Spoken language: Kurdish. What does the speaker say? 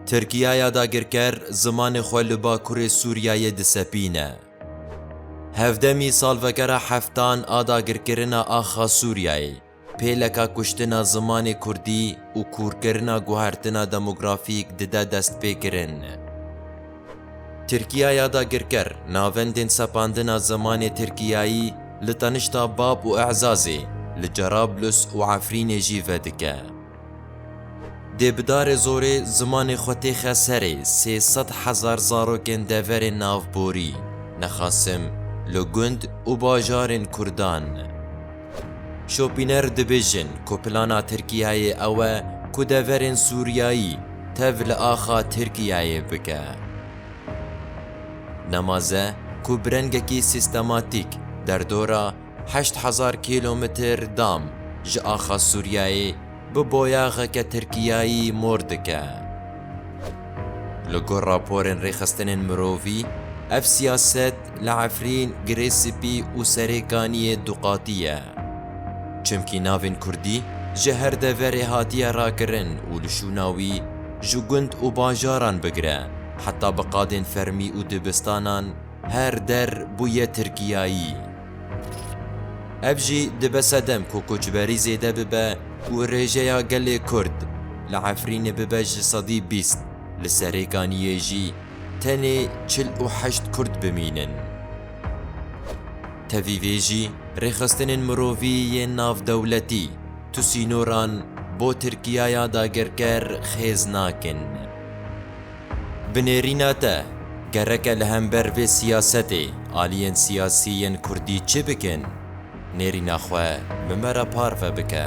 Tirkiyaya dagirker zimanê xwe li Bakurê Sûriyeyê disepîne. Hevdemî salvegera heftan a dagirkirina axa Sûriyeyê, pêleka kuştina zimanê Kurdî û kûrkirina guhertina demografîk dide destpêkirin. Tirkiya ya dagirker, navendên sepandina zimanê Tirkiyayî li tenişta Bab û E'zazê, li Cerablus û Efrînê jî vedike. Dê bi darê zorê zimanê xwe têxe serê sê sed hezar zarokên deverên navborî, nexasim li gund û bajarên Kurdan. Şopîner dibêjin ku plana Tirkiyeyê ew e ku deverên Sûriyayî tev li axa Tirkiyeyê bike. Nemaze ku bi rengekî sîstematîk derdora heşt hezar kîlometr dam ji axa Sûriyeyê, bi boyaxeke Tirkiyayî mor dike. Li gor raporên rêxistinên mirovî, ev siyaset li Efrîn, Girê Spî û Serê Kaniyê duqatî ye. Çimkî navên Kurdî ji her deverê hatiye rakirin û li şûna wî ji gund û bajaran bigire heta bi qadên fermî û dibistanan her der bûye Tirkiyayî. Ev jî dibe sedem ku koçberî zêde bibe û rêjeya gelê Kurd li Efrînê bibe ji sedî bîst, li Serêkaniyê jî tenê çil û heşt Kurd bimînin. Tevî vê jî rêxistinên mirovî yên navdewletî tu sînoran bo Tirkiyaya dagerker xêz nakin. Bi nêrîna te, gereke li hember vê siyasetê aliyên siyasî yên kurdî çi bikin? Nêrîna xwe bi me re parve bike.